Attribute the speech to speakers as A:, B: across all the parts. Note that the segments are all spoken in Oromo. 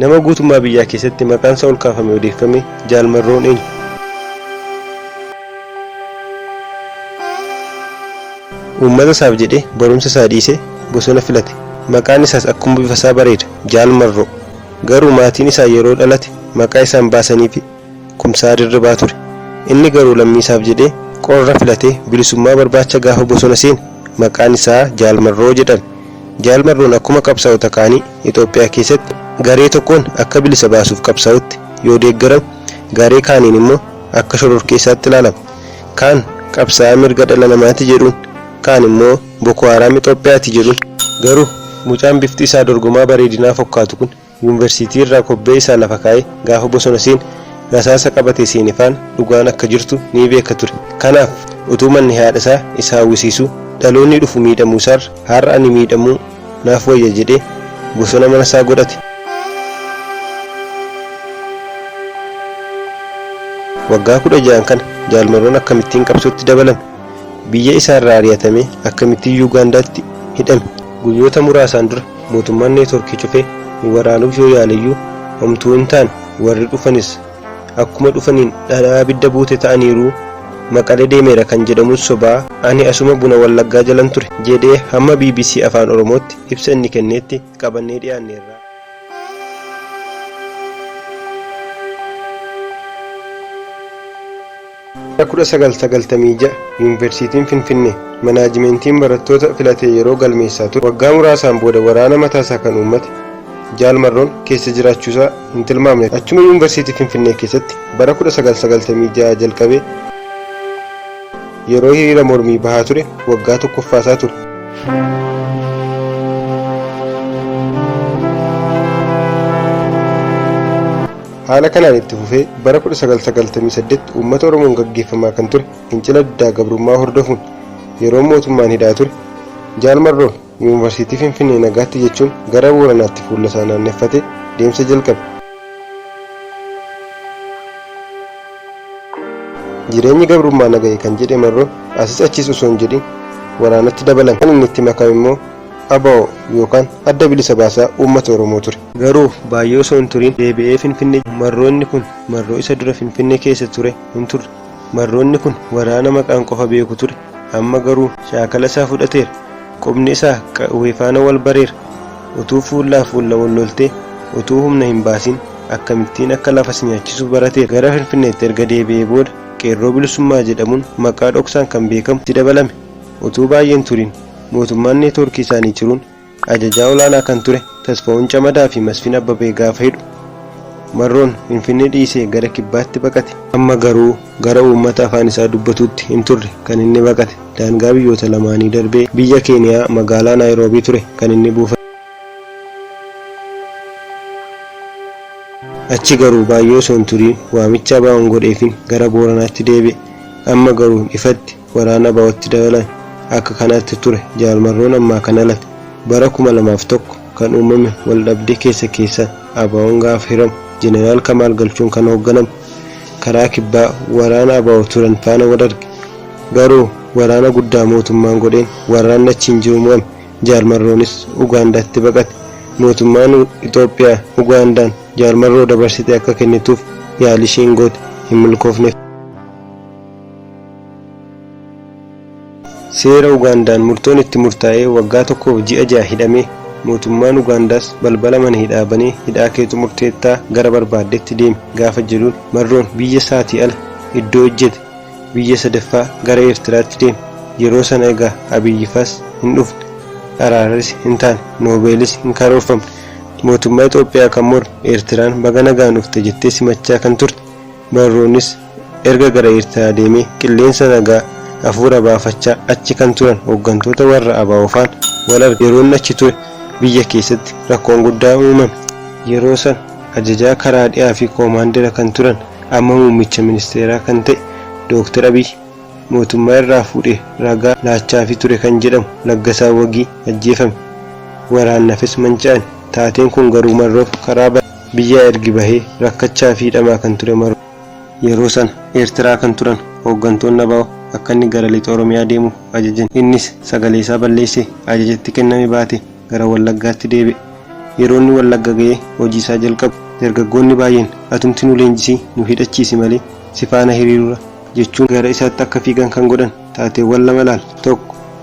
A: Nama guutummaa biyyaa keessatti maqaansaa ol kaafamee odeeffame Jaal Marroon eenyu? Uummata isaaf jedhee barumsa isaa dhiisee bosona filate. Maqaan isaas akkuma bifa isaa bareeda, Jaal Marroo. Garuu maatiin isaa yeroo dhalate maqaa isaan baasaniifi Kumsaa Dirribaa ture. Inni garuu lammiisaaf jedhee qorra filatee bilisummaa barbaacha gaafa bosona seene maqaan isaa Jaal Marroo jedhame. Jaal Marroon akkuma qabsaa'ota kaanii Itoophiyaa keessatti garee tokkoon akka bilisa baasuuf qabsaa'utti yoo deeggarame garee kaaniin immoo akka shororkeessaatti ilaalama. Kaan qabsaa'aa mirga dhala namaati jedhuun kaan immoo Boko Haram Itoophiyaati jedhuun. Garuu mucaan bifti isaa dorgomaa bareedinaa fokkaatu kun Yuunversiitii irraa kobbee isaa lafa kaa'ee gaafa bosona seene rasaasa qabatee seene faana dhugaan akka jirtu ni beeka ture. Kanaaf utuu manni haadha isaa isa hawwisiisuu dhaloonni dhufu miidhamuu isaarra har'a ani miidhamuu naaf wayya jedhee bosona mana isaa godhate. Waggaa 16n kana Jaal Maroon akkamittiin qabsootti dabalame? Biyya isaa irraa ari'atamee akkamittiin Yuugaandaatti hidhame? Guyyoota muraasaan dura Mootummaan network cufe waraanuuf yoo yaaleyyuu homtuu hin taane warri dhufanis akkuma dhufaniin dhadhaa abidda buute ta'aniiruu Maqalee deemeera kan jedhamus sobaa ani asuma buna wallaggaa jalan ture jedhee hamma bbc afaan oromootti ibsa inni kenneetti qabannee dhiyaanneerra. Bara 1996 Yuunvarsiitiin Finfinnee manaajimeentiin barattoota filatee yeroo galmeessaa ture waggaa muraasaan booda waraana mataasaa kan uummate Jaal Marroon keessa jiraachuusaa hin tilmaamne ture. Achuma Yuunvarsiitii Finfinnee keessatti bara 1996 jalqabee yeroo hiriira mormii bahaa ture waggaa tokkoffaasaa ture. Haala kanaan itti fufee bara 1998 uummata Oromoon gaggeeffamaa kan ture fincila diddaa gabrummaa hordofuun yeroo mootummaan hidhaa ture Jaal Marroon Yuunvarsiitii Finfinnee nagaatti jechuun gara Booranaatti fuullasaa naanneffatee deemsa jalqabe. Jireenyi gabrummaa na gahe kan jedhe Marroon asis achis osoo hin jedhin waraanatti dabalame. Kan inni itti makame immoo abo yookaan Adda Bilisa Baasaa Uummata Oromoo ture. Garuu baay'ee osoo hin turin deebi'ee Finfinnee jira. Marroo inni kun marroo isa dura Finfinnee keessa ture hin turre. Marroo inni kun waraana maqaan qofa beeku ture. Amma garuu shaakala isaa fudhateera. Qubni isaa qawwee faana wal bareera. Utuu fuullaa fuulla wal loltee utuu humna hin baasin akkamittiin akka lafa si nyaachisu barateera. Gara Finfinneetti erga deebi'ee booda Qeerroo Bilisummaa jedhamuun maqaa dhoksaan kan beekamu itti dabalame. Utuu baay'ee hin turin mootummaan neetwoorkii isaanii ciruun Ajajaa olaanaa kan ture Tasfa'uun Camadaa fi Masfin Abbabee gaafa hidhu Marroon Finfinnee dhiisee gara Kibbaatti baqate. Amma garuu gara uummata afaan isaa dubbatuutti hin turre kan inni baqate. Daangaa biyyoota lamaanii darbee biyya Keeniyaa magaalaa Naayiroobii ture kan inni buufate. Achi garuu baay'ee osoo hin turiin waamicha ABOn godheefiin gara Booranaatti deebi'e. Amma garuu ifatti Waraana ABOtti dabalan akka kanaatti ture Jaal Marroon ammaa kan alate bara 2001 kan uumame wal dhabdee keessa keessaan ABOn gaafa hiramu Jeneraal Kamaal Galchuun kan hoogganamu karaa kibbaa waraana abo turan faana wal arge garuu waraana guddaa mootummaan godheen waraanni achi hin jiru mo'ame Jaal Marroonis Ugaandaatti baqate mootummaan Itoophiyaa Ugaandaan Jaal Marroo dabarsite akka kennituuf yaalii isheen goote hin milkoofneef. Seera Ugaandaan murtoon itti murtaa'ee waggaa tokkoof ji'a ja'a hidhamee, mootummaan Ugaandaas balbala mana hidhaa banee hidhaa kee xumurteettaa gara barbaaddetti deemi gaafa jedhuun Marroon biyya isaatii ala iddoo hojjete biyya sadaffaa gara Eertiraatti deeme. Yeroo sana egaa Abiyyifaas hin dhufne, araarris hin taane, Noobeelis hin karoorfamne. Mootummaa Itoophiyaa kan morme Eertiraan baga nagaan dhufte jettee simachaa kan turte Marroonis erga gara Eertiraa deemee qilleensa nagaa afuura baafachaa achi kan turan hoggantoota warra abo faan wal arge. Yeroo inni achi ture biyya keessatti rakkoon guddaan uumame. Yeroo sana ajajaa karaa dhihaa fi koomaandera kan turan amma muummicha ministeeraa kan ta'e Dooktar Abiy mootummaa irraa fuudhee ragaa laachaafii ture kan jedhamu Laggasaa Wagii ajjeefame. Waraannafis manca'ani. Taateen kun garuu Marroof karaa bane. Biyyaa ergi bahee rakkachaa fi hidhamaa kan ture Marroo. Yeroo sana Eertiraa kan turan hooggantoonni abo akka inni gara Lixa Oromiyaa deemu ajajan. Innis sagaleesaa balleessee ajaja itti kenname baatee gara Wallaggaatti deebi'e. Yeroo inni Wallagga ga'ee hojiisaa jalqabu dargaggoonni baay'een atumti nu leenjisii nu hidhachiisi malee si faana hiriirura jechuun gara isaatti akka fiigan kan godhan. Taateewwan lama ilaali. 1,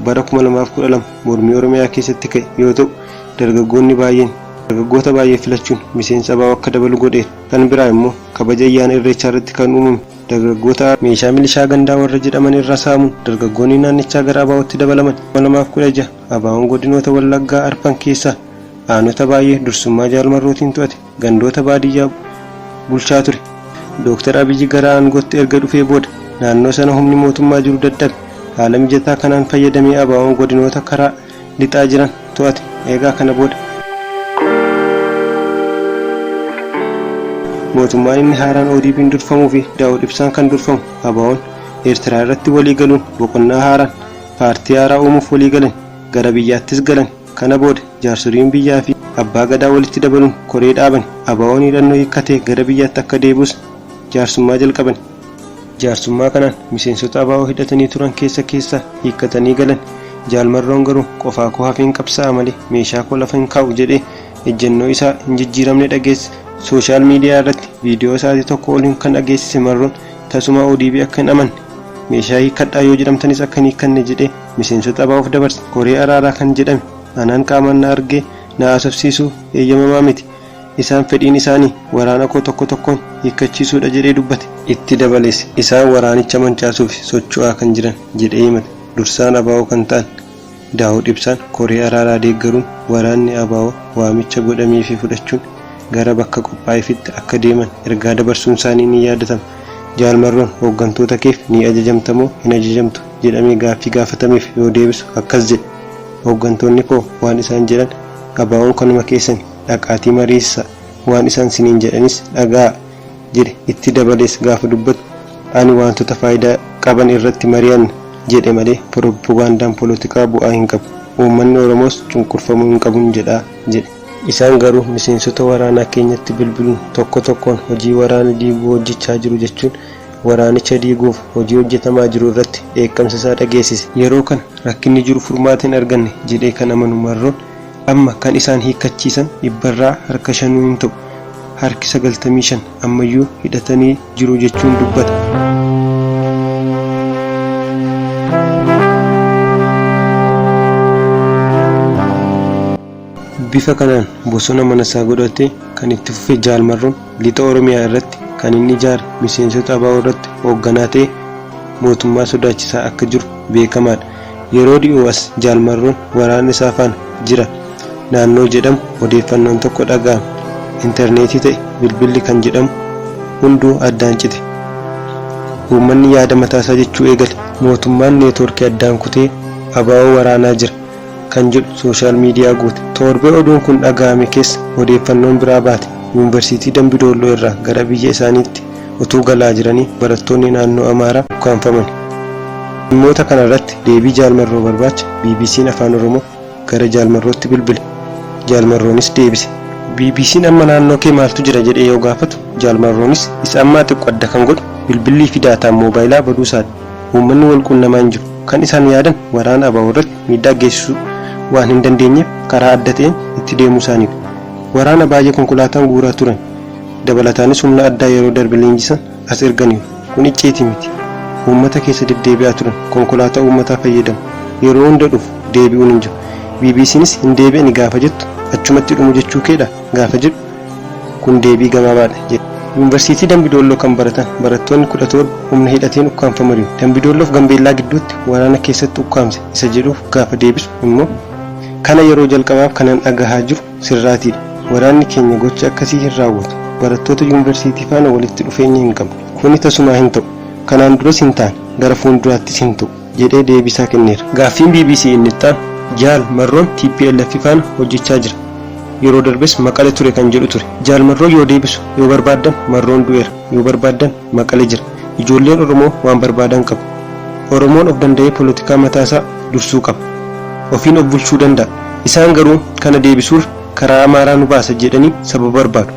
A: Bara 2012 mormii Oromiyaa keessatti ka'e yoo ta'u, dargaggoonni baay'een dargaggoota baay'ee filachuun miseensa abo akka dabalu godheera. Kan biraa immoo kabaja ayyaana Irreechaa irratti kan uumame dargaggoota meeshaa milishaa gandaa warra jedhaman irraa saamuun dargaggoonni naannichaa gara ABOtti dabalaman. 2016, ABOn godinoota Wallaggaa arfan keessaa aanota baay'ee dursummaa Jaal Marrootiin to'ate. gandoota baadiyyaa bulchaa ture. Dooktar Abiyyi gara aangootti erga dhufee booda naannoo sana humni mootummaa jiru dadhabe. Haala mijataa kanaan fayyadamee ABOn godinoota karaa lixaa jiran to'ate. Eegaa kana booda mootummaan inni haaraan ODPn durfamuu fi Daawud Ibsaan kan durfamu ABOn Eertiraa irratti walii galuun boqonnaa haaraan paartii haaraa uumuuf walii galan. Gara biyyaattis galan. Kana booda jaarsoliin biyyaa fi Abbaa Gadaa walitti dabaluun koree dhaabani. ABOn hidhannoo hiikkatee gara biyyaatti akka deebi'us jaarsummaa jalqabani. Jaarsummaa kanaan miseensota abo hidhatanii turan keessa keessaa hiikkatanii galani. Jaal Marroon garuu qofaa koo hafeen qabsaa'a malee meeshaa koo lafa hin kaa'u jedhee ejjennoo isaa hin jijjiiramne dhageessise. Sooshaal miidiyaa irratti viidiyoo sa'aatii tokkoo ol kan dhageessise Marroon tasumaa odp akka hin amanne, meeshaa hiikkadhaa yoo jedhamtanis akka hin hiikkanne jedhee, Miseensota ABOf dabarse koree araaraa kan jedhame anaan qaamaan na argee na haasofsiisuu eeyyamamaa miti. Isaan fedhiin isaanii waraana koo tokko tokkoon hiikkachiisuudha jedhee dubbate. Itti dabalees isaan waraanicha mancaasuuf socho'aa kan jiran jedhee himate. Dursaan abo kan ta'an Daawud Ibsaan koree araaraa deeggaruun waraanni abo waamicha godhameefii fudhachuun gara bakka qophaa'eefitti akka deeman ergaa dabarsuunsaanii ni yaadatama. Jaal Marroon hooggantoota keef ni ajajamtamoo hin ajajamtu? jedhamee gaaffii gaafatameef yoo deebisu akkas jedhe, Hooggantoonni koo waan isaan jedhan ABOn kanuma keessani, dhaqaatii mariisisaa, waan isaan siniin jedhanis dhaga'aa jedhe. Itti dabalees gaafa dubbatu Ani waantota faayidaa qaban irratti mari'anna jedhe malee poroppogaandaan polotikaa bu'aa hin qabu. Uummanni Oromoos cunqurfamuu hin qabun jedha jedhe. Isaan garuu miseensota waraanaa keenyatti bilbiluun tokko tokkoon hojii waraana diiguu hojjechaa jiru jechuun waraanicha diiguuf hojii hojjetamaa jiru irratti dheekkamsa isaa dhageessise. Yeroo kana rakkinni jiru furmaata hin arganne jedhee kan amanu Marroon, amma kan isaan hiikkachiisan dhibbarraa harka shanuu hin ta'u, harki sagaltamii shan ammayyuu hidhatanii jiru jechuun dubbata. Bifa kanaan bosona manasaa godhatee kan itti fufe Jaal Marroon, Lixa Oromiyaa irratti kan inni ijaare miseensota abo irratti hoogganaa ta'ee mootummaa sodaachisaa akka jiru beekamaadha. Yeroo dhiyoo as Jaal Marroon waraana isaa faana jira naannoo jedhamu odeeffannoon tokko dhaga'ame. Interneetii ta'e bilbilli kan jedhamu hunduu addaan cite. Uummanni yaada mataasaa jechuu eegale. Mootummaan neetworkii addaan kutee abo waraanaa jira. kan jedhu sooshaal miidiyaa guute. Toorbee oduun kun dhaga'ame keessa odeeffannoon biraa baate. Yuunvarsiitii Dambi Doolloo irraa gara biyya isaaniitti utuu galaa jiranii barattoonni naannoo Amaaraa ukkaamfamani. Dhimmoota kana irratti deebii Jaal Marroo barbaacha BBC'n Afaan Oromoo gara Jaal Marrootti bilbile. Jaal Marroonis deebise. BBC'n amma naannoo kee maaltu jira jedhee yoo gaafatu Jaal Marroonis isa ammaa xiqqo adda kan godhu bilbillii fi daataan moobaayilaa baduu isaati. Uummanni wal quunnamaa hin jiru. Kan isaan yaadan waraana abo irratti miidhaa geessisuu waan hin dandeenyeef karaa adda ta'een itti deemuu isaaniidha. Waraana baay'ee konkolaataan guuraa turan dabalataanis humna addaa yeroo darbe leenjisan as erganiiru. Kun icciitii miti. Uummata keessa deddeebi'aa turan. Konkolaataa uummataa fayyadamu. Yeroo hunda dhufu, deebi'uun hin jiru. BBCnis hin deebi'ani gaafa jettu achumatti dhumu jechuu keedhaa? gaafa jedhu, Kun deebii gabaabaadha, jedhe. Yuunvarsiitii Dambi Doolloo kan baratan barattoonni 17 humna hidhateen ukkaamfamariiru. Dambi Doolloof Gambeellaa gidduutti waraana keessatti ukkaamse isa jedhuuf gaafa deebisu immoo, Kana yeroo jalqabaaf kanan dhagahaa jiru sirraatiidha. Waraanni keenya gocha akkasii hin raawwatu. Barattoota yuunvarsiitii faana walitti dhufeenya hin qabnu. Kuni tasumaa hin ta'u. Kanaan duras hin taane. Gara fuunduraattis hin ta'u. jedhee deebiisaa kenneera. Gaaffiin bbc inni ittaanu Jaal Marroon tplf faana hojjechaa jira. Yeroo darbes Maqale ture kan jedhu ture. Jaal Marroo yoo deebisu yoo barbaaddan Marroon du'eera, yoo barbaaddan Maqale jira. Ijoolleen Oromoo waan barbaadan qabu. Oromoon of danda'ee polotikaa mataasaa dursuu qaba. Ofiin of bulchuu danda'a. Isaan garuu kana deebisuurra karaa Amaaraa nu baasa jedhanii sababa barbaadu.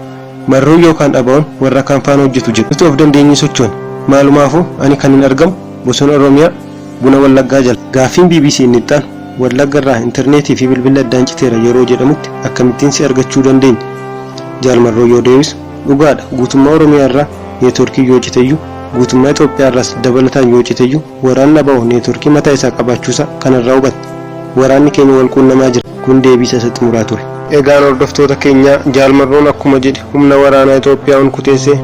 A: Marroon yookaan ABOn warra kaan faana hojjetu jedhu. Nuti of dandeenyee sochoone. Maalumaafuu ani kanin argamu Bosona Oromiyaa, Buna Wallaggaa jala. Gaaffiin bbc inni itti aanu, Wallagga irraa interneetii fi bilbilli addaan citeera yeroo jedhamutti akkamittiin si argachuu dandeenya? Jaal Marroo yoo deebisu, Dhugaa dha, guutummaa Oromiyaa irraa neetworkiin yoo cite iyyuu, guutummaa Itoophiyaa irraas dabalataan yoo cite iyyuu waraanni abo neetworkii mataa isaa qabaachuu isaa kana irraa hubatta. Waraanni keenya wal quunnamaa jira. Kun deebiisa isa xumuraa ture. Egaan hordoftoota keenyaa, Jaal Marroon akkuma jedhe humna waraanaa Itoophiyaa hunkuteessee,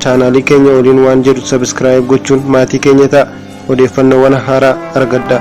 A: chaanaalii keenya waliin waan jedhu sabiskiraayib gochuun maatii keenya ta'a odeeffannoowwan haaraa argadha